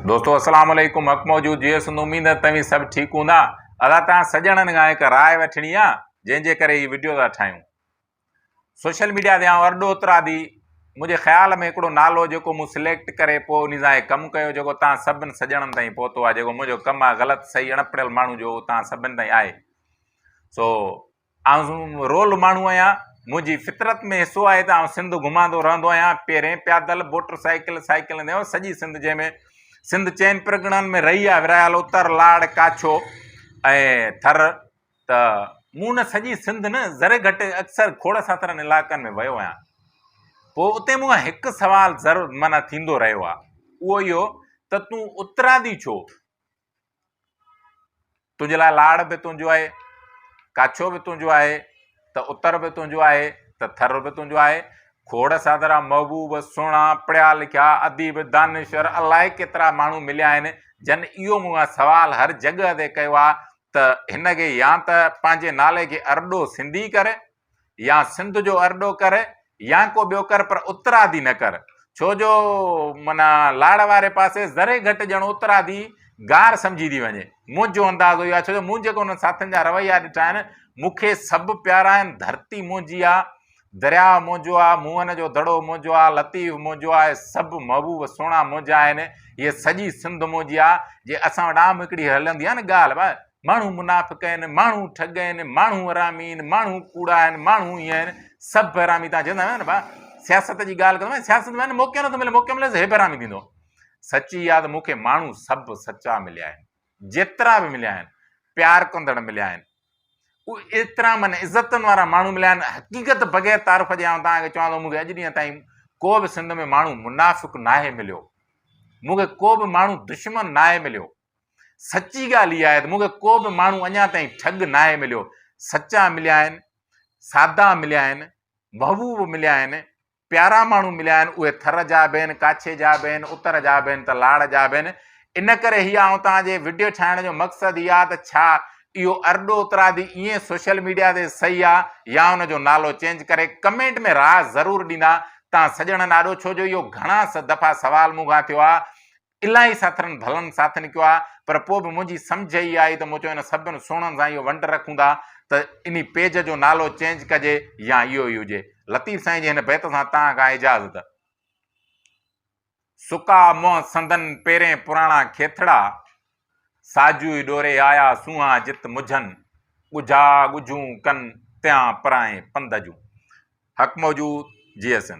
دوستو السلام عليڪم حق موجود جيئي سندو اميد آهي توهين سڀ ٺيڪ هوندا ادا توهان سڄڻن کان هڪ راء وٺڻي آ جنهن جي ڪري هي وڊيو ٿا ٺاهيون سوشل ميڊيا تي آئون ارڏو اترادي منهنجي خيال ۾ هڪڙو نالو جيڪو مون سليڪٽ ڪري پوء انهي سان هي ڪم ڪيو جيڪو توهان سڀن سڄڻن تائين پهتو آهي جيڪو منهنجو ڪم آهي غلط صحيح اڻ پڙهيل ماڻهو جو اهو توهان سڀن تائين آهي سو آئون رول ماڻهو آهيان، منهنجي فطرت ۾ حصو آهي ته آئون سنڌ گهماندو رهندو آهيان، پيرين، پيادل، موٽر سائيڪل، سائيڪل هوندي آهيان، سڄي سنڌ جنهن ۾ سنڌ چئن پرڳڻن ۾ رهي آهي، ورهايل، اتر، لاڙ، ڪاڇو ۽ ٿر ته مون نه سڄي سنڌ نه ذري گهٽ اڪثر کوڙ ساترن علائقن ۾ ويو آهيان، پوء اتي مون کان هڪ سوال ضرور معنيٰ ٿيندو رهيو آهي، اهو اهو ته تون اترادي ڇو؟ تنهنجي لاء لاڙ به تنهنجو آهي، ڪاڇو به تنهنجو آهي ته اتر به تنهنجو آهي ته ٿر به تنهنجو آهي. کوڙ سادرا محبوب، سهڻا، پڙهيا لکيا، اديب، دانشور الائي ڪيترا ماڻهو مليا آهن جن اهو مون کان سوال هر جڳهه تي ڪيو آهي ته هن کي يا ته پنهنجي نالي کي ارڏو سنڌي ڪر يا سنڌ جو ارڏو ڪر يا ڪو ٻيو ڪر پر اترادي نه ڪر، ڇو جو معنيٰ لاڙ واري پاسي ذري گهٽ ڄڻ اترادي گار سمجهي ٿي وڃي. منهنجو انداز اهو آهي، ڇو جو مون جيڪي انهن ساٿين جا رويا ڏٺا آهن، مون کي سڀ پيارا آهن، ڌرتي منهنجي آ، درياء منهنجو آ، موهن جو دڙو منهنجو آ، لطيف منهنجو آ، اهي سڀ محبوب سهڻا منهنجا آهن، هيء سڄي سنڌ منهنجي آ، جي اسان وٽ عام هڪڙي هلندي آهي نه ڳالهه، ماڻهو منافق آهن ماڻهو ٺڳ آهن ماڻهو حرامي آهن ماڻهو ڪوڙا آهن ماڻهو ائين آهن سڀ حرامي تان چوندا آهيو نه با سياست جي ڳالهه ڪندو سياست ۾ موقعو نٿو ملي موقعو ملي هي حرامي ٿيندو سچي ياد مونکي ماڻهو سڀ سچا مليا آهن جيترا به مليا آهن پیار ڪندڙ مليا آهن ايترا من عزتن وارا ماڻهو مليا آهن حقيقت بغير تعارف جي آئون تان چوان ٿو مونکي اڄ ڏينهن تائين ڪو به سنڌ ۾ ماڻهو منافق ناهي مليو مونکي ڪو به ماڻهو دشمن ناهي مليو سچي ڳالهه اها آهي ته مون کي ڪو به ماڻهو اڃا تائين ٺڳ ناهي مليو. سچا مليا آهن، سادا مليا آهن، محبوب مليا آهن، پيارا ماڻهو مليا آهن، اهي ٿر جا به آهن، ڪاڇي جا به آهن، اتر جا به آهن ته لاڙ جا به آهن. ان ڪري هي آئون توهان جي وڊيو ٺاهڻ جو مقصد هي آهي ته ڇا اهو ارڏو اترادي ائين سوشل ميڊيا تي صحيح آهي يا ان جو نالو چينج ڪري؟ ڪمينٽ ۾ راء ضرور ڏيندا توهان سڄڻن آڏو ڇو جو اهو گهڻا دفعا سوال مون کان ٿيو آهي الاهي ساٿرن ڀلن ساٿ نڪيو آهي پر پوء به منهنجي سمجهه اهي آهي ته مون چيو ان سڀن سهڻن سان اهو ونڊ رکون ٿا ته انهي پيج جو نالو چينج ڪجي يا اهو ئي هجي لطيف سائين جي هن بيت سان تان کان اجازت. سڪا منهن سندن پيرين پراڻا کيٿڙا، ساجوئي ڏوري آيا سونهان جت مجهن، ڳجها ڳجهون ڪن تيان پرائين پنڌ جون. حق موجود، جي ايس اين.